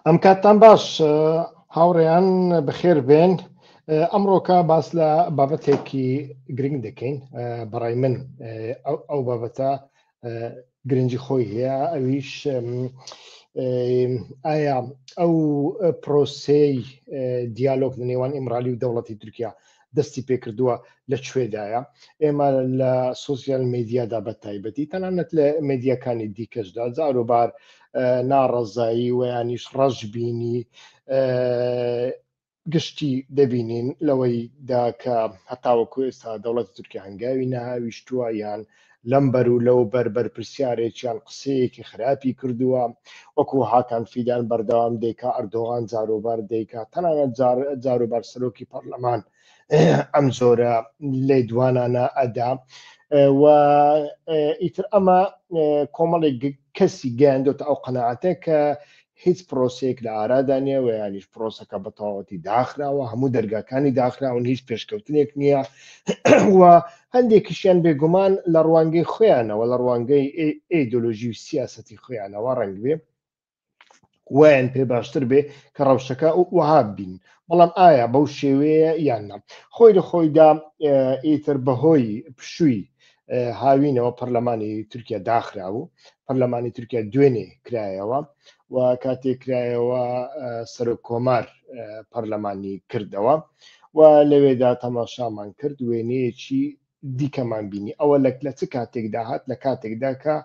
ئەم کاتتان باش هاوڕێیان بەخێر بێن ئەمڕۆکە باس لە بابەتێکی گرنگ دەکەین بەڕای من ئەو بابەتە گرنگی خۆی هەیە ئەویش ئایا ئەو پرۆسەی دیالۆگ لە نێوان ئیمرالی و دەوڵەتی تورکیا دەستی پێکردووە لە کوێدایە ئێمە لە سوسیال میدیادا بە تایبەتی تەنانەت لە مدیەکانی دیکەشدا جاروبار ناڕەزایی ویانیش ڕەش بینی گشتی دەبینین لەوەی داکە هەتاوەکو ئێستا دەوڵەتی تورکیا هەنگاوی نەهاویشتووە یان لەم بەر و لەو بەر بەرپرسیارێکیان قسەیەکی خراپی کردووە، وەکو هاکان فیدان بەردەوام دەیکا ئەردۆغان جاروبار دەیکا، تەنانەت جار جاروبار سەرۆکی پەرلەمان ئەم جۆرە لێدوانانە ئەدا و ئیتر ئەمە کۆمەڵێک کەسی گەیاندۆتە ئەو قەناعەتە کە هیچ پرۆسەیەک لە ئارادا نییە و یانیش پرۆسەکە بە تەواوەتی داخراوە، هەموو دەرگاکانی داخراون، هیچ پێشکەوتنێک نییە و هەندێکیشیان بێگومان لە ڕوانگەی خۆیانەوە، لە ڕوانگەی ئیدۆلۆژی و سیاسەتی خۆیانەوە ڕەنگبێ وایان پێ باشتر بێ کە ڕەوشەکە وەها ببین، بەڵام ئایا بەو شێوەیە یان نا؟ خۆی لە خۆیدا ئیتر بەهۆی پشووی هاوینەوە پەرلەمانی تورکیا داخرا و پەرلەمانی تورکیا دوێنێ کرایەوە و کاتێک کرایەوە سەرۆک کۆمار پەرلەمانی کردەوە و لەوێدا تەماشامان کرد وێنەیەکی دیکەمان بینی ئەوە لەک لە چ کاتێکدا هات لە کاتێکدا کە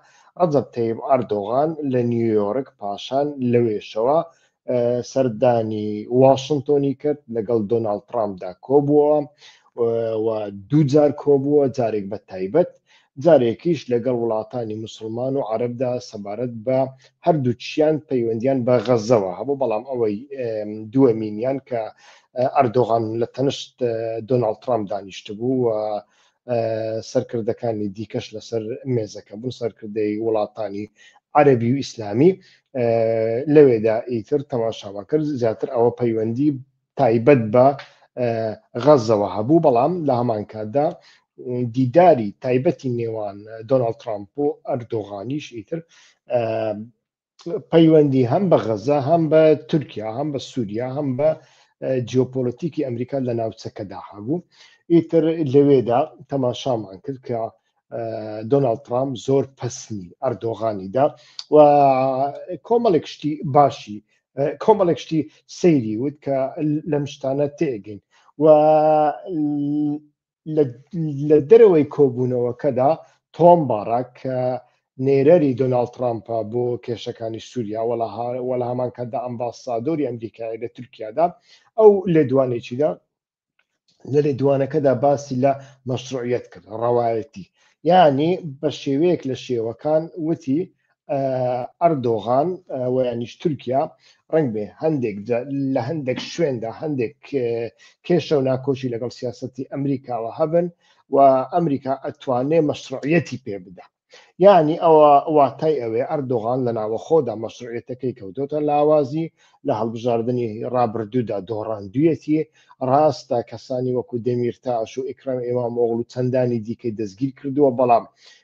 ڕەزب تەیب ئەردۆغان لە نیویۆرک پاشان لەوێشەوە سەردانی واشنتۆنی کرد لەگەڵ دۆناالد ترامپدا کۆبووەوە و دووجار کۆبووە جارێک بە تایبەت جارێکیش لەگەڵ وڵاتانی مسلمان و عربدا سەبارەت بە هەردووچیان پەیوەندیان بە غەزەوە هەبوو بەڵام ئەوەی دووەمینیان کە ئەردۆغان لە تەنشت دۆناالد ترامپ دانیشتبوو و سەرکردەکانی دیکەش لەسەر مێزەکە بوون، سەرکردەی وڵاتانی عەرەبی و ئیسلامی لەوێدا ئیتر تەماشامان کرد زیاتر ئەوە پەیوەندی تایبەت بە غەزەوە هەبوو بەڵام لە هەمان کاتدا دیداری تایبەتی نێوان دۆناڵد ترامپ و ئەردۆغانیش ئیتر پەیوەندی هەم بە غەزە هەم بە تورکیا هەم بە سووریا هەم بە جیۆپۆلەتیکی ئەمریکا لە ناوچەکەدا هەبوو ئیتر لەوێدا تەماشامان کرد کە دۆناالد ترامپ زۆر پسنی ئەردۆغانیدا و کۆمەڵێک شتی باشی کۆمەڵێک شتی سەیری وت کە لەم شتانە تێگەین و لە دەرەوەی کۆبوونەوەکەدا تۆم باڕاک کە نێرەری دۆناڵد ترامپە بۆ کێشەکانی سووریا وەڵا هەمان کاتدا ئەمباسادۆری ئەمریکای لە تورکیادا ئەو لێدوانێکیدا لە لێدوانەکەدا باسی لە مەشروعیت کرد ڕەوایەتی یعنی بە شێوەیەک لە شێوەکان وتی ئەردۆغان و یانیش تورکیا ڕنگ بێ هەندێک لە هەندێک شوێندا هەندێک کێشە و ناکۆشی لەگەڵ سیاستی ئەمریکاوە هەبن و ئەمریکا ئەتوانێ مەشروعەتی پێ بدا یعنی ئەوە واتای ئەوێ ئەردۆغان لە ناوەخۆدا مەسرعێتەکەی کەوتۆتە لاوازی لە هەڵبژاردننی ڕابردوودا دۆڕاندویەتی ڕاستە کەسانی وەکو دەمیرتاش و ئیکرام ئێمام ئۆغل و چەندانی دیکەی دەستگیر کردووە بەڵام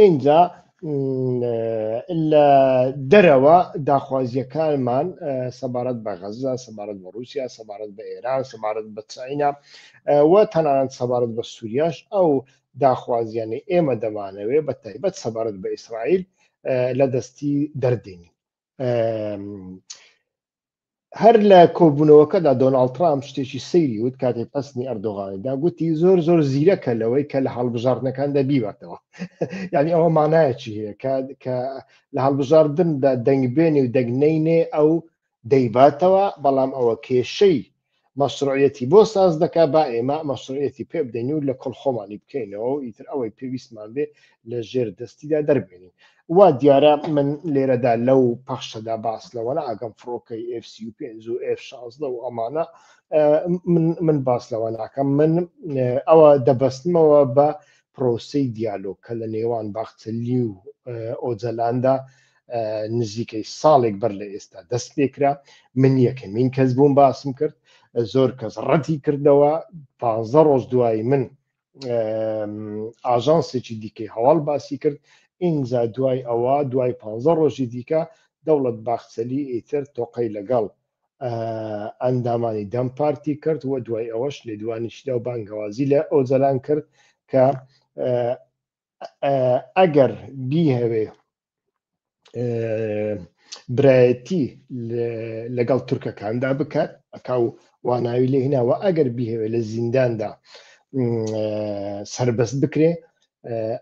ئینجا لە دەرەوە داخوازیەکانمان سەبارەت بە غەزە سەبارەت بە رووسیا سەبارەت بە ئێران سەبارەت بە چاینا و تەنانەت سەبارەت بە سووریاش ئەو داخوازیانی ئێمە دەمانەوێ بە تایبەت سەبارەت بە ئیسرائیل لە دەستی دەردێنین هەر لە کۆبوونەوەکەدا دۆناڵ ترامپ شتێکی سەیری وت کاتێک پستنی ئەردۆغانیدا گوتی زۆر زۆر زیرەکە لەوەی کە لە هەڵبژاردنەکاندا بیوەتەوە یعنی ئەوە مانایەکی هەیە کە لە هەڵبژاردندا دەنگبێنی و دەگنینێ ئەو دەیباتەوە بەڵام ئەوە کێشەی مەشروعیەتی بۆ ساز دەکا با ئێمە مەشروعیەتی پێ بدەین و لە کۆڵ خۆمانی بکەینەوە و ئیتر ئەوەی پێویستمان بێ لە ژێر دەستیدا دەربێنین وا دیارە من لێرەدا لەو پەخشەدا باس لەوە ناگەم فڕۆکەی F35 و F16 و ئەمانە من باس لەوە ناکەم من ئەوە دەبەستمەوە بە پرۆسی دیالۆگ کە لە نێوان باخچەلی و ئۆجەلاندا نزیکەی ساڵێک بەر لە ئێستا دەست پێکرا من یەکەمین کەس بووم باسم کرد زۆر کەس ڕەتی کردەوە پ ڕۆژ دوایی من ئاژانسێکی دیکەی هەواڵ باسی کرد ئینجا دوای ئەوە دوای پ ڕۆژی دیکە دەوڵەت باخچەلی ئیتر تۆقەی لەگەڵ ئەندامانی دەم پارتی کرد و دوای ئەوەش لێدوانیشدا و بانگەوازی لە ئۆجەلان کرد کە ئەگەر بیهەوێ برایەتی لەگەڵ تورکەکاندا بکات ئەکا و واناوی لێ هیناوە ئەگەر بیهەوێ لە زینداندا سربەست بکرێ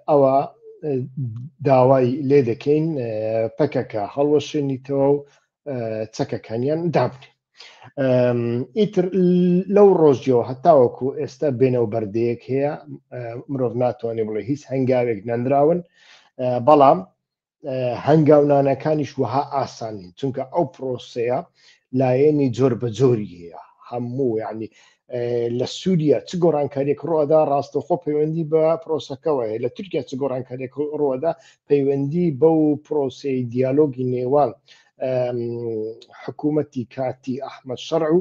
ئەوە داوای لێ دەکەین پەکەکە هەڵوەشێنیتەوە و چەکەکانیان دابنێ ئیتر لەو ڕۆژیەوە هەتاوەکو ئێستا بێنەو بەردەیەک هەیە مرۆڤ ناتوانێ بڵێ هیچ هەنگاوێک نەنراون بەڵام هەنگاونانەکانیش وەها ئاسانین چونکە ئەو پرۆسەیە لایەنی جۆر بە جۆری هەیە هەموو ینی لە سووریا چ گۆڕانکاریێک ڕۆدا ڕاستەخۆ پەیوەندی بە پرۆسەکەەوە هەیە لە تورکیا چ گۆڕانکاریێک ڕۆدا پەیوەندی بەو پرۆسی دیالۆگی نێوان حکوومەتی کاتی ئەحمد شەڕ و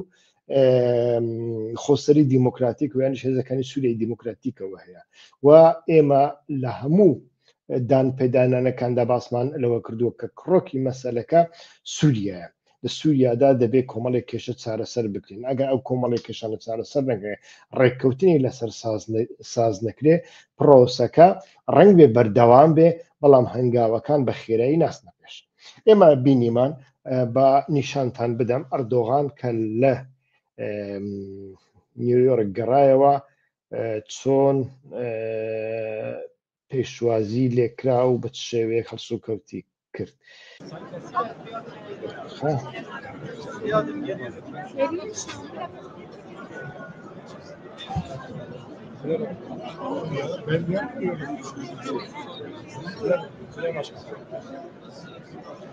خۆسەری دیموکراتیک ویان هێزەکانی سووری دیموکراتیکەوە هەیە و ئێمە لە هەموو دان پێدانانەکاندا باسمان لەوە کردووە کە کڕۆکی مەسەلەکە سووریایە لە سووریادا دەبێت کۆمەڵێک کێشە چارەسەر بکرین ئەگە ئەو کۆمەڵی کێشانە چارەسەر نەکرێ ڕێککەوتنی لەسەر ساز نەکرێ پرۆسەکە ڕنگ بێ بەردەوام بێ بەڵام هەنگاوەکان بە خێرایی ناسنە پێش ئێمە بینیمان بە نیشانتان بدەم ئەردۆغان کە لە نیویۆرک گەڕایەوە چۆن پێشوازی لێکرا و بە شێوەیەک هەڵسو کەوتی کرد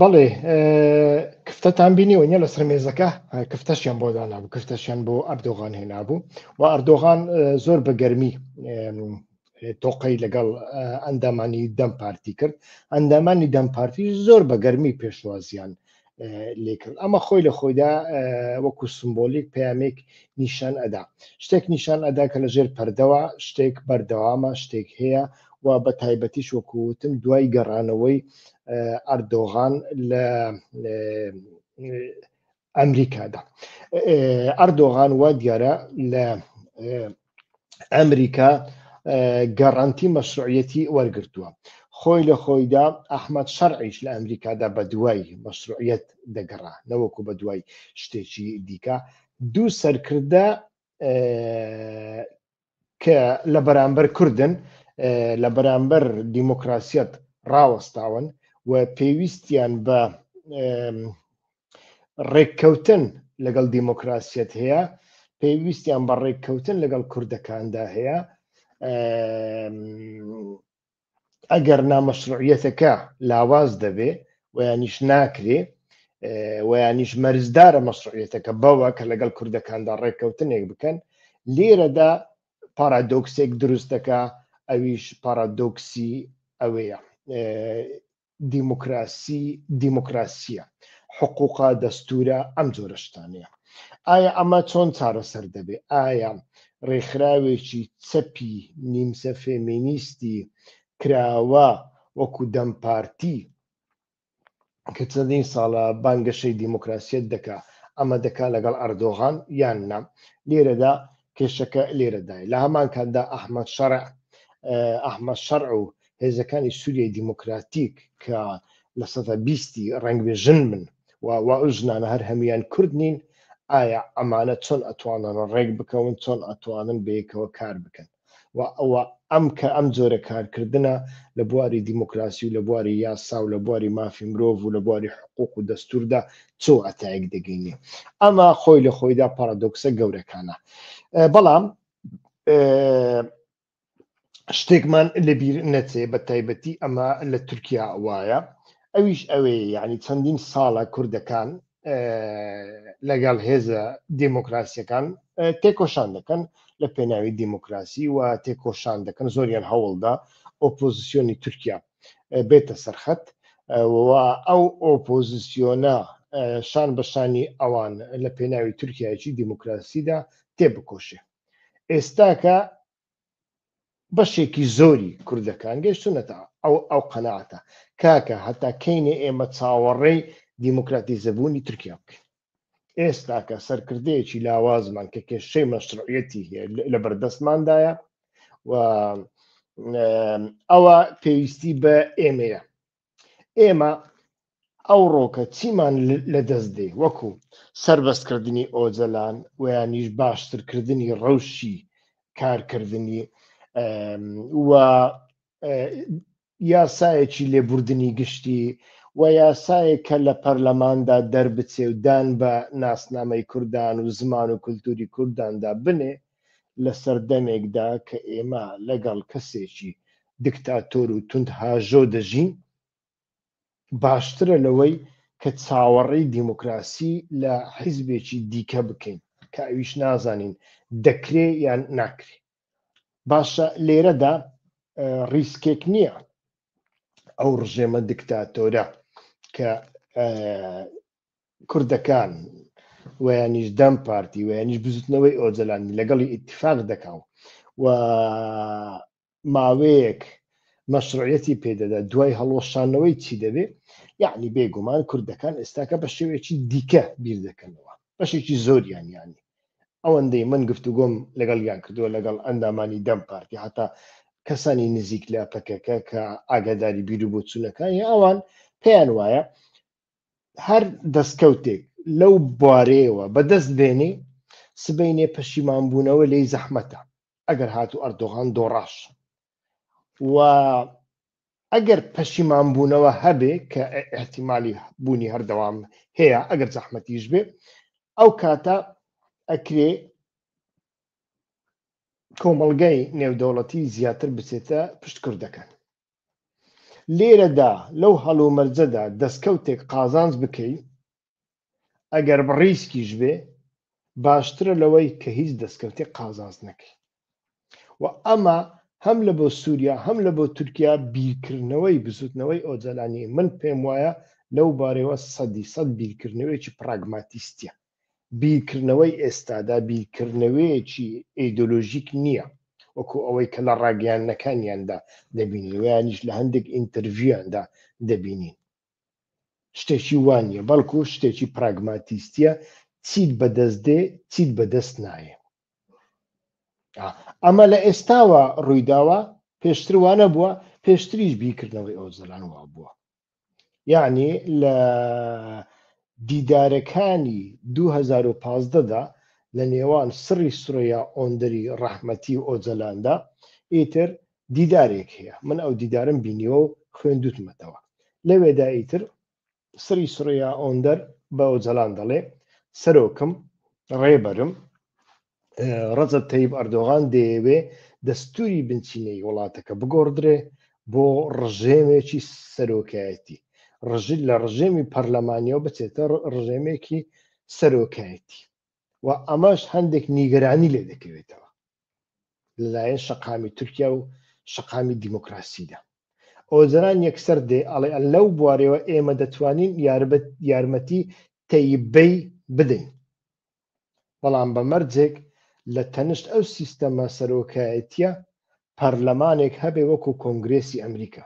بەڵێ کفتەتان بینیەوە نیە لەسەر مێزەکە کفتەشیان بۆ دانابوو کفتەشیان بۆ ئەردۆغان هێنابوو و ئەردۆغان زۆر بەگەرمی تۆقەی لەگەڵ ئەندامانی دەم پارتی کرد ئەندامانی دەم پارتی زۆر بە گەرمی پێشوازیان لێکرد ئەمە خۆی لە خۆیدا وەکو سمبۆلیک پامێک نیشان ئەدا شتێک نیشان ئەدا کە لە ژێر پەردەوە شتێک بەردەوامە شتێک هەیە و بە تایبەتیش وەکوتم دوای گەڕانەوەی ئەردۆغان لە ئەمریکادا ئەردۆغان وا دیارە لە ئەمریکا گەڕانتی مەسرعەتی وەرگتووە خۆی لە خۆیدا ئەحمد شەرعیش لە ئەمریکادا بە دوای مەسرعەت دەگەڕا نەوەکو بە دوای شتێکی دیکە دوو سەرکردە کە لە بەرامبەر کوردن لە بەرامبەر دیموکراسیەت ڕاوەستاون و پێویستیان بە ڕێککەوتن لەگەڵ دیموکراسیەت هەیە پێویستیان بە ڕێککەوتن لەگەڵ کوردەکاندا هەیە ئەگەر نامەشروعیەتەکە لاواز دەبێ ویانیش ناکرێ ویانیش مەرزدارە مەسرعیەتەکە بەوە کە لەگەڵ کوردەکاندا ڕێککەوتنێک بکەن لێرەدا پارادۆکسێک دروستەکە ئەویش پارادۆکسی ئەوەیە دیموکراسی دیموکراسیە حقوقە دەستورە ئەم جۆرە شتانەیە ئایا ئەمە چۆن چارەسەر دەبێ ئایا ڕێکخراوێکی چەپی نیمسە فێمینیستی کراوە وەکو دەم پارتی کە چەندین ساڵە بانگەشەی دیموکراسیت دەکا ئەمە دەکا لەگەڵ ئەردۆغان یان نام لێرەدا کێشەکە لێرەدای لە هەمان کاتدا ئەحمد شەرع ئەحمە شەرع و هێزەکانی سووریای دیموکراتیک کە لە سەدا بیستی ڕەنگبێ ژن بن و وا ئەو ژنانە هەر هەموان کورد نین ئایا ئەمانە چۆن ئەتوانن ڕێک بکەون چۆن ئەتوانن بەیەکەوە کار بکەن و ئەوە ئەم کە ئەم جۆرە کارکردە لە بواری دیموکراسی و لە بواری یاسا و لە بواری مافی مرۆڤ و لە بواری حقوق و دەستوردا چۆ ئەتایەک دەگەینێ ئەمە خۆی لە خۆیدا پارادۆکسە گەورەکانە بەڵام شتێکمان لەبیر نەچێ بە تایبەتی ئەمە لە تورکیا وایە ئەویش ئەوێ یعنی چەندین ساڵە کوردەکان لەگەڵ هێزە دیموکراسیەکان تێکۆشان دەکەن لە پێناوی دیموکراسی و تێکۆشان دەکەن زۆریان هەوڵدا ئۆپۆزیسیۆنی تورکیا بێتە سەرخەت ئەو ئۆپۆزیسیۆنە شان بەشانی ئەوان لە پێناوی تورکایەکی دیموکراسیدا تێبکۆشێ ئێستاکە بەشێکی زۆری کوردەکان گەشتونەتە ئەو ئەو قەنەعاتە کاکە هەتا کەینێ ئێمە چاوەڕێی دیموکراتیزەبوونی تورکیا بکەین ئێستاکە سەرکردەیەکی لاوازمان کە کێشەی مەشروعەتی هەیە لە بەردەستماندایە و ئەوە پێویستی بە ئێمەیە ئێمە ئەوڕۆکە چیمان لەدەست دێ وەکو سربەستکردنی ئۆجەلان ویانیش باشترکردنی ڕەوشی کارکردنی و یاسایەکی لێبوردنی گشتی و یاسایە کە لە پەرلەماندا دەربچێ و دان بە ناسنامەی کوردان و زمان و کولتوری کورداندا بنێ لە سەردەمێکدا کە ئێمە لەگەڵ کەسێکی دکتاتۆر و توند هاژۆ دەژین باشترە لەوەی کە چاوەڕی دیموکراسی لە حیزبێکی دیکە بکەین کە ئەویش نازانین دەکرێ یان ناکرێ باشە لێرەدا ریسکێک نییە ئەو ڕژێمە دکتاتۆرە کە کوردەکان و یانیش دەم پارتی و یانیش بزوتنەوەی ئۆجەلانی لەگەڵی ئیتفاق دەکا و ماوەیەک مەشروعەتی پێدەدا دوای هەڵۆشانەوەی چی دەبێ یعنی بێگومان کوردەکان ئێستاکە بە شێوێکی دیکە بیر دەکەنەوە بەشێکی زۆریان یانی ئەوەندەی من گفتوگۆم لەگەڵ یان کردووە لەگەڵ ئەندامانی دەم پارتی هەتا کەسانی نزیک لە پەکەکە کە ئاگاداری بیر و بۆچوونەکانی ئەوان پێیان وایە هەر دەستکەوتێک لەو بوارەیەوە بەدەست بێنی سبینێ پەشیمانبوونەوە لی زەحمەتە ئەگەر هات و ئەردۆغان دۆڕاش و ئەگەر پەشیمانبوونەوە هەبێ کە احتیممالی بوونی هەردەوام هەیە ئەگەر زەحمەتیش بێ ئەو کاتە ئەکرێ کۆمەڵگای نێودەوڵەتی زیاتر بچێتە پشت کوردەکان لێرەدا لەو هەڵومەرجەدا دەستکەوتێک قازانج بکەی ئەگەر بڕیسکیش بێ باشترە لەوەی کە هیچ دەستکەوتێک قازانج نەکەی و ئەمە هەم لە بۆ سووریا هەم لە بۆ تورکیا بیرکردنەوەی بزوتنەوەی ئۆجەلانی من پێم وایە لەو بارەوە سەدی سەد بیرکردنەوەیکی پراگماتیستە بیرکردنەوەی ئێستادا بیرکردنەوەیەکی ئەیدۆلۆژیک نییە وەکو ئەوەی کە لە ڕاگەیاندنەکانیاندا دەبینین ویانیش لە هەندێک ئینتەرڤیویاندا دەبینین شتێکی وانە بەڵکو شتێکی پراگماتیستە چیت بەدەست دێ چیت بەدەست نایە ئەمە لە ئێستاوە ڕوویداوە پێشتر وانە بووە پێشتریش بیکردنەوەی ئەو زەلان وا بووە یەعنی لە دیدارەکانی دوو هەزار و پازدە دا لە نێوان سڕی سورەیا ئۆندەری ڕەحمەتی و ئۆجەلاندا ئیتر دیدارێک هەیە من ئەو دیدارم بینیوە و خوێندوتمەتەوە لەوێدا ئیتر سری سریا ئۆندەر بە ئۆجەلان دەڵێ سەرۆکم ڕێبەرم ڕەجەب تەیب ئەردۆغان دەیەوێ دەستوری بنچینەی وڵاتەکە بگۆڕدرێ بۆ ڕژێمێکی سەرۆکایەتی ڕژل لە ڕژێمی پەرلەمانیەوە بچێتە ڕژێمێکی سەرۆکایەتی و ئەمەش هەندێک نیگەرانی لێ دەکەوێتەوە لەلایەن شەقامی تورکیا و شەقامی دیموکراسیدا ئۆزران یەکسەر دێ ئەڵێ لەو بوارەوە ئێمە دەتوانین یاربەت یارمەتی تەیبەی بدەین بەڵام بە مەرجێک لە تەنشت ئەو سیستەمە سەرۆکایەتیە پەرلەمانێک هەبێ وەکو کۆنگرێسی ئەمریکا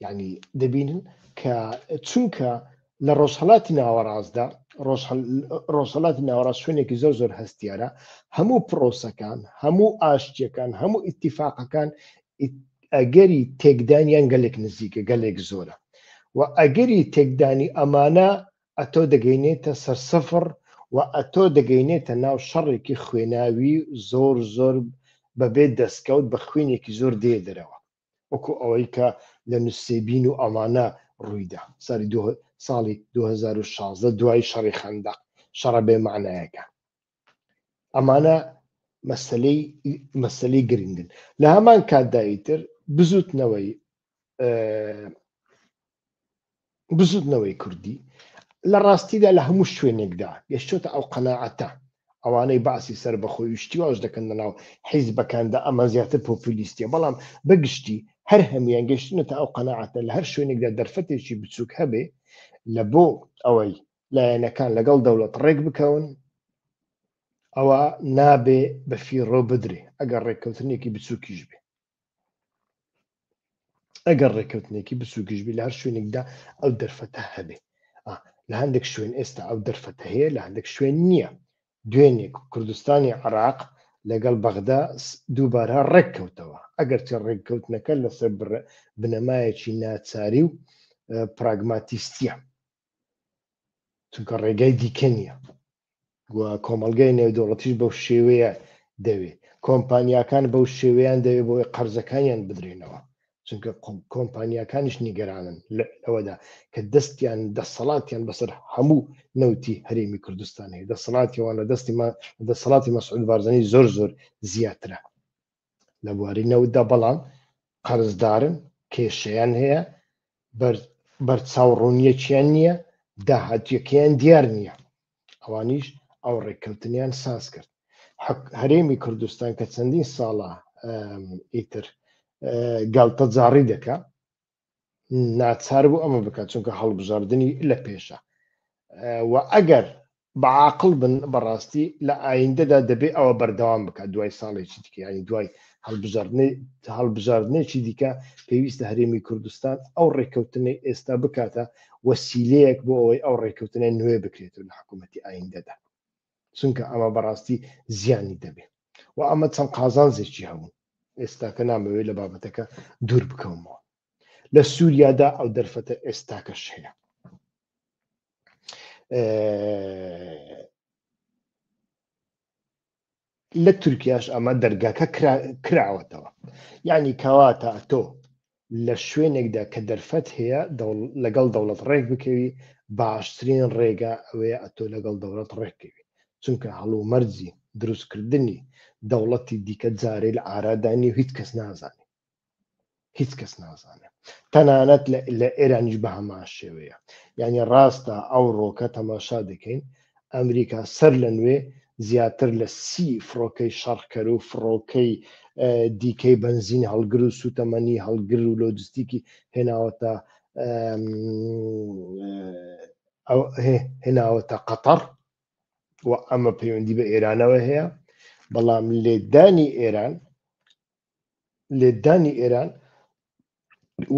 یعنی دەبینن کە چونکە لە ڕۆژهڵاتی ناوەڕاستدا ڕۆژهڵاتی ناوەڕاست شوێنێکی زۆر زۆر هەستیارە هەموو پرۆسەکان هەموو ئاشتیەکان هەموو ئیتیفاقەکان ئەگەری تێکدانیان گەلێک نزیکە گەلێک زۆرە و ئەگەری تێکدانی ئەمانە ئەتۆ دەگەینێتە سەر سفڕ و ئەتۆ دەگەینێتە ناو شەڕێکی خوێناوی زۆر زۆر بەبێ دەستکەوت بە خوێنێکی زۆر دێ دەرەوە وەکو ئەوەی کە لە نوسێبین و ئەوانە ڕوویدا ساری دو ساڵی 2016 دوای شەڕی خەندەق شەڕە بێ معنایەکە ئەمانە مەسلەی مەسلەی گرنگن لە هەمان کاتداییتر بزوتنەوەی بزوتنەوەی کوردی لە ڕاستیدا لە هەموو شوێنێکدا گەشتۆتە ئەو قەنەعەتە ئەوانەی باسی سەر بەخۆی وشتی واش دەکەن لەناو حیزبەکاندا ئەمە زیاتر پۆپولیستە بەڵام بەگشتی هەر هەمویان گەشتنێتە ئەو قەنەعاتە لە هەر شوێنێکدا دەرفەتێکی بچووک هەبێ لە بۆ ئەوەی لایەنەکان لەگەڵ دەوڵەت ڕێک بکەون ئەوە نابێ بە فیڕۆ بدرێ ئەگەر ڕێککەوتنێکی بچووکیش بێ ئەگەر ڕێککەوتنێکی بچووکیش بێ لە هەر شوێنێکدا ئەو دەرفەتە هەبێ لە هەندێک شوێن ئێستا ئەو دەرفەتە هەیە لە هەندێک شوێن نییە دوێنێک کوردستانی عراق لەگەڵ بەغدا دووبارە ڕێککەوتەوە ئەگەر چە ڕێککەوتنەکە لەسەر بنەمایەکی ناچاری و پراگماتیستە چونکە ڕێگای دیکە نییە و کۆمەلگای نێودەوڵەتیش بەو شێوەیە دەوێ کۆمپانیاکان بەو شێوەیان دەوێ بۆی قەرزەکانیان بدرێنەوە چونکە کۆمپانیاکانیش نیگەرانن لەوەدا کە دەستیان دەسەڵاتیان بەسەر هەموو نەوتی هەرێمی کوردستان هەیە دەسەڵاتیەوان لە دەستی دەسەڵاتی مەسعود بارزانانی زۆر زۆر زیاترە لە بواری نەوتدا، بەڵام قەرزدارن، کێشەیان هەیە، بەرچاوڕوونییەکیان نییە، داهاتوویەکەیان دیار نییە، ئەوانیش ئەو ڕێککەوتنەیان ساز کرد. هەرێمی کوردستان کە چەندین ساڵە ئیتر گاڵتەجاڕی دەکات، ناچار بوو ئەمە بکات چونکە هەڵبژاردننی لە پێشە و ئەگەر بەعاقل بن بەڕاستی لە ئایندەدا دەبێت ئەوە بەردەوام بکات دوای ساڵێکی دیکەیانی دوای هەڵبژاردنەی هەڵبژاردنێکی دیکە پێویستە هەرێمی کوردستان ئەو ڕێککەوتنەی ئێستا بکاتە وەسیلەیەک بۆ ئەوەی ئەو ڕێککەوتنە نوێ بکرێتەوە لە حکوومەتتی ئایندەدا چونکە ئەمە بەڕاستی زیانی دەبێ و ئەمە چەند قازانجێکی هەبوو ئێستاکە نامەوێت لە بابەتەکە دوور بکەومەوە لە سووریادا ئەو دەرفەتە ئێستاکەش هەیە لە تورکیاش ئەمە دەرگاکە کراوەتەوە یعنی کەواتە تۆ لە شوێنێکدا کە دەرفەت هەیە لەگەڵ دەوڵەت ڕێک بکەوی باشترین ڕێگا ئەوەیە ئەتۆ لەگەڵ دەوڵەت ڕێک کەوی چونکە هەڵومەرجی دروستکردنی دەوڵەتی دیکە جارەی لە ئارادا نیە و هیچ کەس نازانێ هیچ کەس نازانێ تەنانەت لە ئێرانیش بە هەمان شێوەیە یعنی ڕاستە ئەوڕۆکە تەماشا دەکەین ئەمریکا سەر لە نوێ زیاتر لە سی فڕۆکەی شەڕکەر و فڕۆکەی دیکەی بەنزین هەڵگر و سوتەمەنی هەڵگر و لۆجستیکی هێناوەتە هێناوەتە قەتەڕ و ئەمە پەیوەندی بە ئێرانەوە هەیە بەڵام لێدانی ئێران لێدانی ئێران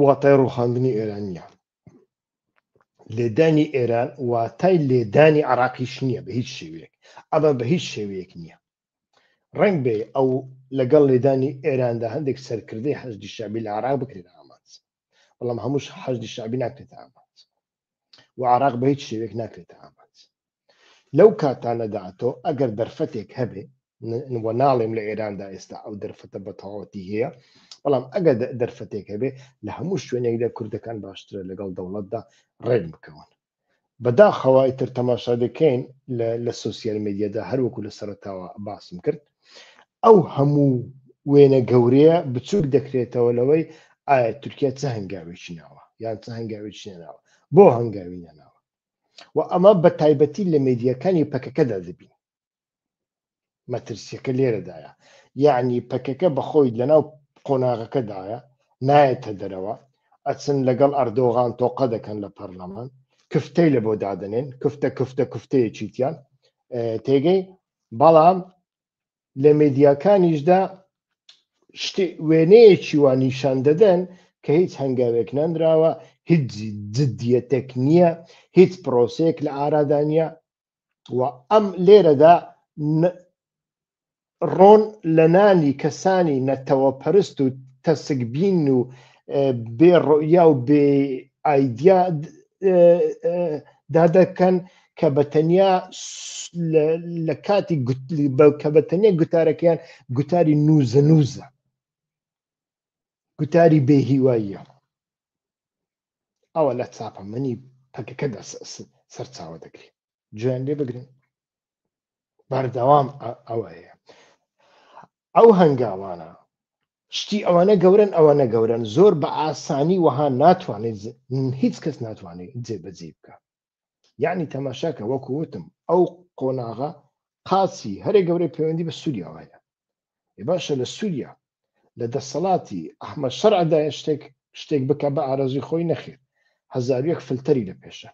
واتای ڕوخاندنی ئێران نیە لێدانی ئێران واتای لێدانی عراقیش نییە بە هیچ شێوەیەک ئەمە بە هیچ شێوەیەک نییە ڕنگ بێ ئەو لەگەڵ لێدانی ئێراندا هەندێک سەرکردی حەزدی شابی لە عراق بکرێت ئامانج بەڵام هەمووش حەزدی شابی ناکرێت ئامانج و عراق بە هیچ شێوێک ناکرێت ئامانج لەو کاتانەدا تۆ ئەگەر دەرفەتێک هەبێ وە ناڵێم لە ئێراندا ئێستا ئەو دەرفەتە بە تەواوەتی هەیە بەڵام ئەگەر دەرفەتێک هەبێ لە هەموو شوێنێکدا کوردەکان باشترە لەگەڵ دەوڵەتدا ڕێک بکەون بەداخەوای تر تەماشا دەکەین لە سوسیال میدیادا هەروەکو لە سەرتاوە باسم کرد ئەو هەموو وێنە گەورەیە بچووک دەکرێتەوە لەوەی ئایا تورکیا چه هەنگاوێکی ناوە یان چه هەنگاوێکی ناوە بۆ هەنگاوی نەناوە و ئەمە بە تایبەتی لە مێدیاکانی پەکەکەدا دەبین مەترسیەکە لێرەدایە یعنی پەکەکە بەخۆی لەناو قۆناغەکەدایە نایەتە دەرەوە ئەچن لەگەڵ ئەردۆغان تۆقە دەکەن لە پەرلەمان کفتەی لە بۆ دادنێن کفتە کفتە کفتەیە چیتیان تێگەی بەڵام لە مێدیاکانیشدا وێنەیەکی وا نیشان دەدەن کە هیچ هەنگاوێک نەنراوە هیچ جددیەتێک نییە هیچ پرۆسەیەک لە ئارادانە و ئەم لێرەدا ڕۆن لە نانی کەسانی نەتەوە پەرست و تەسکبین و بێڕۆیا و بێ ئایدیا دادەکەن کە بە تەنیا لە کاتی کە بە تەنیا گوتارەکەیان گوتاری نوزە نوزە گوتاری بێهیواییە ئەوە لە چاپەمەنی پەکەکەدا سەرچاوە دەگرێت جوێن لێ بگرن بەردەوام ئەوەیە ئەو هەنگاوانە شتی ئەوانە گەورن ئەوانە گەورن زۆر بە ئاسانی وەها ناتوانێت هیچ کەس ناتوانێت جێبەجێ بکە یعنی تەماشاکە وەکو وتم ئەو قۆناغە قاچی هەرێ گەورەی پەیوەندی بە سووریاوایە ێ باشە لە سووریا لە دەسەڵاتی ئەحمە شەرعدایە شتێک شتێک بکە بە ئارەزوی خۆی نەخێر هەزار یەک فلتەری لە پێشە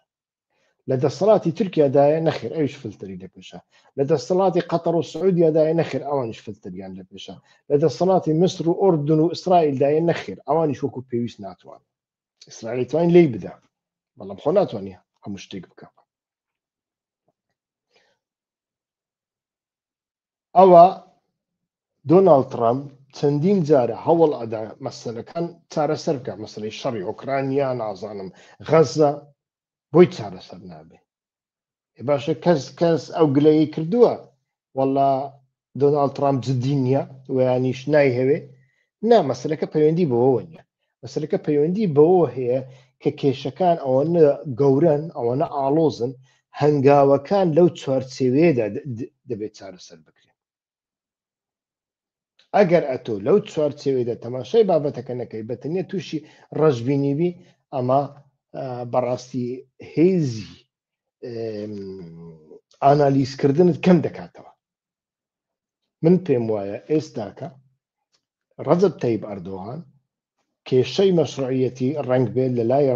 لە دەسەڵاتی تورکیادایە نەخێر ئەوش فلتری دەپێشە لە دەسەڵاتی قەتەڕ و سعودیادایە نەخێر ئەوانش فلتریان دەپێشە لە دەسەڵاتی مسر و ئۆردن و ئیسرائیلدایە نەخێر ئەوانیش وەکو پێویست ناتوان ئیسرائیل توانین لی بدا بەڵام خۆ ناتوانانی هەموو شتێک بکە ئەوا دۆناڵد تڕەمپ چەندین جارە هەوڵ ئەدا مەسەلەکان چارەسەر بکات، مەسەلەی شەڕی ئۆکرانیا، نازانم غەززە بۆی چارەسەر نابێ. ئێ باشە کەس کەس ئەو گلەیی کردووە وەڵا دۆناڵد تڕەمپ جددی نییە ویانیش نایهەوێ نا مەسەلەکە پەیوەندی بەوەوە نییە مەسلەکە پەیوەندی بەوە هەیە کە کێشەکان ئەوەنە گەورن ئەوەنە ئاڵۆزن هەنگاوەکان لەو چوارچێوەیەدا دەبێت چارەسەر بکرێن ئەگەر ئەتۆ لەو چوارچێوەیدا تەماشای بابەتەکە نەکەی بەتەنیا تووشی ڕەشببینیبی ئەمە بەڕاستی هێزی ئانالیزکردنت کەم دەکاتەوە من پێم وایە ئێستاکە ڕەجب تەیب ئەردۆغان کێشەی مەشروعەتی ڕنگ بێت لە لای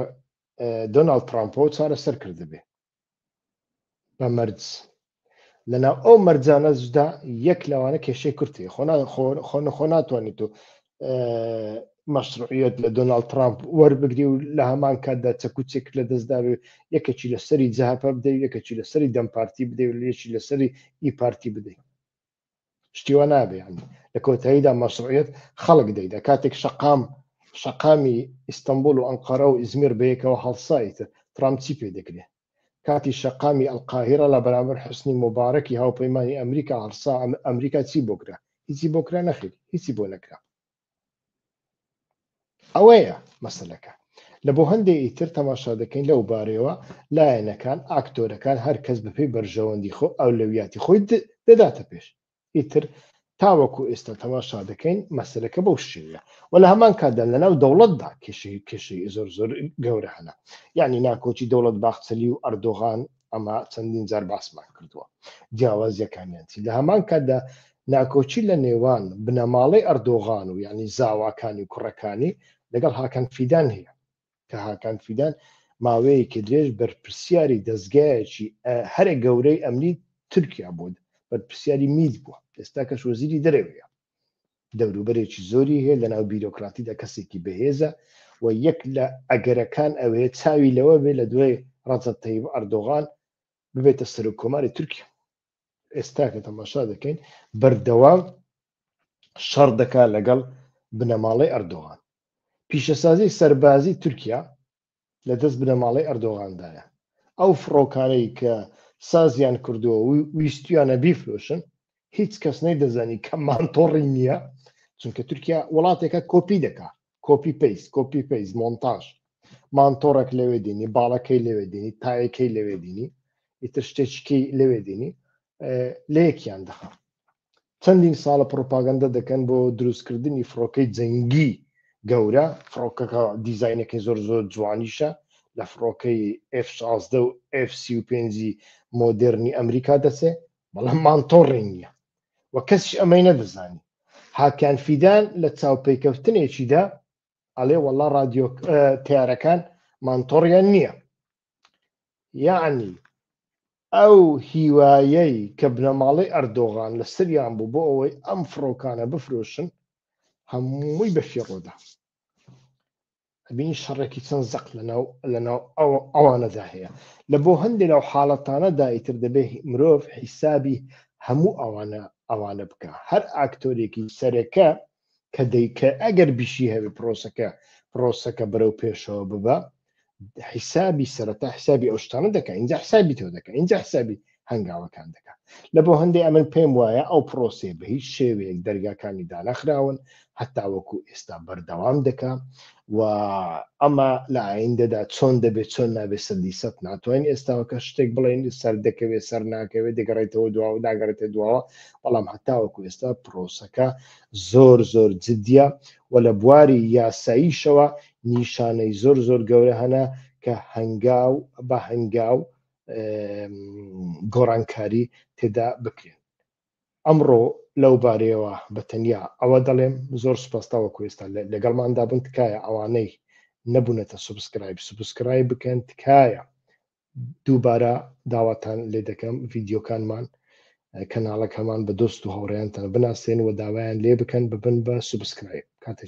دۆناالد ترامپۆ چارەسەر کردبێ بە مەرج لەناو ئەو مەرجانەشدا یەک لەوانە کێشەی کورتی خۆ خۆ ناتوانیت و مەشروعیت لە دۆناالد ترامپ وەربگری و لە هەمان کاتدا چەکوچێک لە دەستداوێ یەکێکی لە سەری جەهپە بدەی یەکێکی لە سەری دەم پارتی بدەی و لەشی لە سەری ئی پارتی بدەی شتیوە نابێن لە کۆتاییدا مەشروعیت خەڵک دەیدا کاتێک شقام شقامی ئیستنبول و ئەنقەرە و ئزمیر بەیەکەوە هەڵسایتە ترامپ چی پێ دەکرێت کاتی شەقامی ئەلقاهیرە لە بەرامبەر حوسنی موبارەکی هاوپەیمانی ئەمریکا هەڵسا ئەمریکا چی بۆ کرا هیچی بۆ کرا نەخیر هیچی بۆ نەکرا ئەوەیە مەسلەکە لە بۆ هەندێک ئیتر تەماشا دەکەین لەو بارەوە لایەنەکان ئاکتۆرەکان هەر کەس بەپێی بەرژەوەندی خۆ ئەولەویاتی خۆی دەداتە پێش ئیتر تاوەکو ئێستا تەماشا دەکەین مەسەلەکە بەو شێوەیە و لە هەمان کاتدا لەناو دەوڵەتدا کێشەی کێشەی زۆر زۆر گەورە هەنا یعنی ناکۆکی دەوڵەت باخچەلی و ئەردۆغان ئەمە چەندین جار باسمان کردووە جیاوازیەکانیان چی لە هەمان کاتدا ناکۆچی لە نێوان بنەماڵەی ئەردۆغان و یعنی زاواکانی کوڕەکانی لەگەڵ هاکەن فیدان هەیە کە هاکان فیدان ماوەیەکی درێژ بەرپرسیاری دەستگایەکی هەرە گەورەی ئەمنی تورکیا بۆ بەرپرسیاری میت بووە ئێستا کەش وەزیری دەرەوەیە دەوروبەرێکی زۆری هەیە لەناو بیرۆکراتیدا کەسێکی بەهێزە و یەک لە ئەگەرەکان ئەوێ چاوی لەوە بێ لە دوای ڕەزە تەیب ئەردۆغان ببێتە سەرۆک کۆماری تورکیا ئێستا کە تەماشا دەکەین بەردەوام شەڕ دەکا لەگەڵ بنەماڵەی ئەردۆغان پیشەسازی سەربازی تورکیا لە دەست بنەماڵەی ئەردۆغاندایە ئەو فڕۆکانەی کە سازیان کردووە ویستویانە بیفرۆشن هیچ کەس نەی دەزانی کە مانتۆڕی نییە چونکە تورکیا وڵاتێکە کۆپی دەکا کۆپی پەیس کۆپی پەیس مۆنتاژ مانتۆڕێک لەوێ دینی باڵەکەی لەوێ دینی تایەکەی لەوێ دینی ئیتر شتێکی لەوێ دینی لەیەکیان دەخە چەندین ساڵە پرۆپاگەندە دەکەن بۆ دروستکردنی فڕۆکەی جەنگی گەورە فڕۆکەکە دیزینەکەی زۆر زۆر جوانیشە لە فڕۆکەی F16 و F35 مۆدررنی ئەمریکا دەچێ بەڵام مانتۆڕی نییە و کەسیش ئەمەی نەدەزانی هاکان فیدان لە چاوپێکەوتنێکیدا ئەڵێ وەڵا رادیۆ تارەکان مانتۆڕیان نییە یعنی ئەو هیوایەی کە بنەماڵەی ئەردۆغان لە سریان بوو بۆ ئەوەی ئەم فڕۆکانە بفرۆشن هەمووی بەفیڕۆدا ئەبینی شەڕێکی چەند زەق لەناو لەناو ئەوانەدا هەیە لە بۆ هەندێک لەو حاڵەتانەدا ئیتر دەبێت مرۆڤ حیسابی هەموو ئەوانە ئەوانە بکە هەر ئاکتۆرێکی سەرەکە کە دەیکە ئەگەر بیشی هەوێ پرۆسەکە پرۆسەکە بەرەو پێشەوە ببە حیسابی سەرەتا حسابی ئەو شتانە دەکە اینجا حسابی تۆ دەکە اینجا حسابی هەنگاوەکان دەکات لە بۆ هەندێک ئەمن پێم وایە ئەو پرۆسێ بە هیچ شێوەیەک دەرگاکانی دانەخراون هەتاوەکو ئێستا بەردەوام دەکا و ئەمە لە ئایندەدا چۆن دەبێت چۆن نابێت سەدی سە ناتوانین ئێستاوەکە شتێک بڵێن سەر دەکەوێت سەر ناکەوێت دەگەڕێتەوە دوا و ناگەڕێتە دواوە بەڵام هەتاوەکو ئێستا پرۆسەکە زۆر زۆر جددیە و لە بواری یاساییشەوە نیشانەی زۆر زۆر گەورە هەنا کە هەنگاو بە هەنگاو گۆڕانکاری تێدا بکرێن ئەمڕۆ لەو بارەیەوە بە تەنیا ئەوە دەڵێم زۆر سپاستاوە کوێستا لەگەڵماندا بن تکایە ئەوانەی نەبوونەتە سوبسکرایب سوبسکرای بکەن تکایە دووبارە داواتان لێ دەکەم ڤیددیوکانمان کەناڵەکەمان بە دۆست و هاوڕێیانتان بناسێن و داوایان لێ بکەن ببن بە سوبسکرایب کاتێک